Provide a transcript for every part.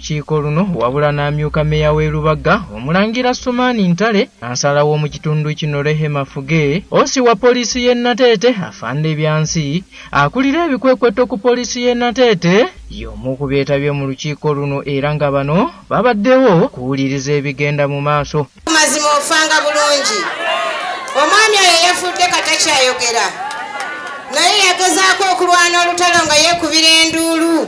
lukiiko luno wabula n'amyuka meeya w'e Lubaga Omulangira Sumaani Ntale, kansala w'omu kitundu kino Rehema Fuge, osi wa poliisi y'e Nateete Afande Byansi, akulira ebikwekweto ku poliisi y'e Nateete y'omu ku beetabye mu lukiiko luno era nga bano babaddewo kuwuliriza ebigenda mu maaso. Mazima ofanga bulungi. Omwami oyo yafudde katakyayogera naye yagezaako okulwana olutalo nga yeekubira enduulu.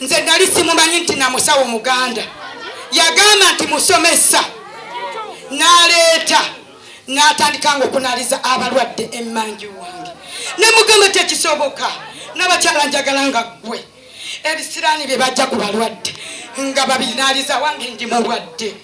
nze nali simumanyi nti na musawo muganda yagamba nti musomesa naleeta natandika nga okunaliza abalwadde emanju wange nemugamba tekisoboka nabakyala njagala nga ggwe ebisiraani bye bajja ku balwadde nga babinaliza wange ndi mulwadde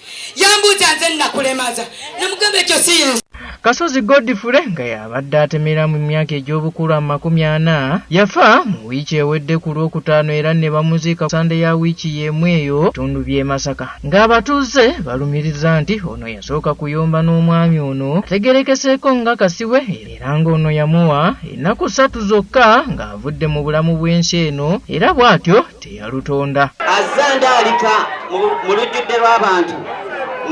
yambuuza nze nakulemaza namugamba ekyo si yensi kasozi godfure nga yabadde atemera mu myaka egy'obukulu amakumi ana yafa mu wiiki ewedde ku lwokutaano era ne bamuziika sande ya wiiki y'emu eyo bitundu by'e masaka ng'abatuuze balumiriza nti ono yasooka kuyomba n'omwami ono ategerekeseeko nga kasiwe era ng'ono yamuwa ennaku ssatu zokka ng'avudde mu bulamu bw'ensi eno era bw'atyo teyalutonda. Azze andaalika mu lujjudde lw'abantu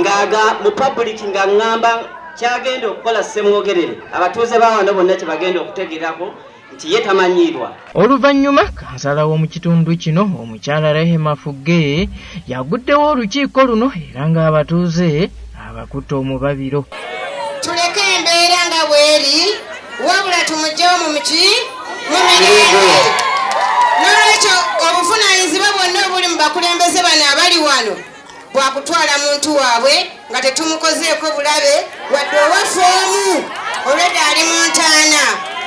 ng'aga mu pabuliki nga ŋŋamba ky'agenda okukola ssemwogerere abatuuze ba wano bonna kye bagenda okutegerako nti ye tamanyiirwa. Oluvannyuma kansala w'omu kitundu kino omukyala Rehema Fugge yaguddewo olukiiko luno era ng'abatuuze abakutte omubabiro tuleke embeera nga bweri wabula tumugye omumuki mu mirembe n'olwekyo obuvunaanyizibwa bwonna obuli mu bakulembeze bano abali wano bwakutwala muntu waabwe nga tetumukozeeko bulabe wadde owaffe omu olwedda ali mu ntaana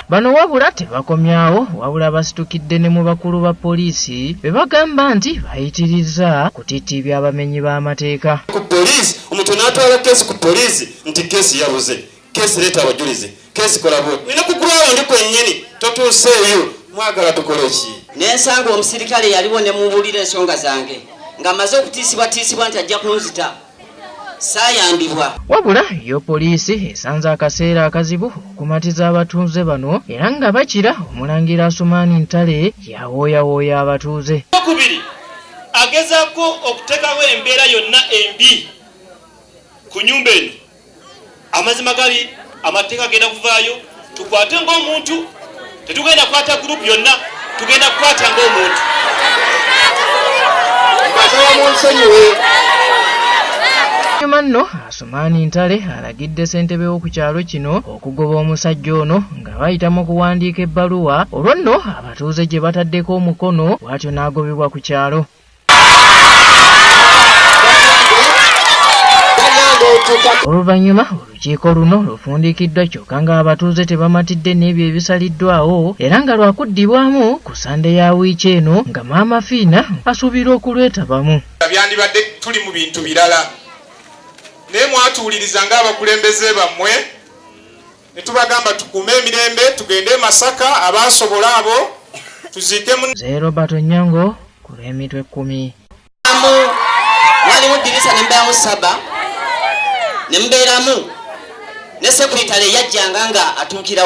bano wabula tebakomyawo wabula basitukidde ne mu bakulu ba poliisi be bagamba nti bayitirizza kutitibya abamenyi b'amateeka ku poliisi omuntu n'atwala keesi ku poliisi nti keesi yabuze keesi leeta abajulizi keesi kola bwoti nina ku grawundi kwennyini totuuseeyo mwagala tukole ki nensanga omusirikale yaliwo ne mubuulira ensonga zange nga maze okutiisibwatiisibwa nti ajja kunzita saayambibwa. Wabula yo poliisi esanze akaseera akazibu okumatiza abatuuze bano era nga bakira omulangira Asumaani Ntale yawooyawooya abatuuze. Okubiri agezaako okuteekawo embeera yonna embi ku nyumba eno amazima gali amateeka agenda kuvaayo tukwate ngaomuntu tetugenda kukwata gurupu yonna tugenda kukwata ngaomuntu nyuma nno asumaani ntale alagidde ssentebe w'oku kyalo kino okugoba omusajja ono nga bayita mu kuwandiika ebbaluwa olwo nno abatuuze gye bataddeko omukono bw'atyo n'agobebwa ku kyalo oluvannyuma olukiiko luno lufundikiddwa kyokka ng'abatuuze tebamatidde n'ebyo ebisaliddwawo era nga lwakuddibwamu ku sande ya wiiki eno nga maama fiina asuubirwa okulwetabamu byandibadde tuli mu bintu birala naye mwatuwuliriza ng'abakulembeze bammwe ne tubagamba tukuume emirembe tugende e Masaka abaasobola abo tuziike mu Nze Robert Onyango ku lw'emitwe ekkumi. Waliwo ddirisa ne mbeeramu saba ne mbeeramu ne sekuritale yajjanga nga atuukirawo.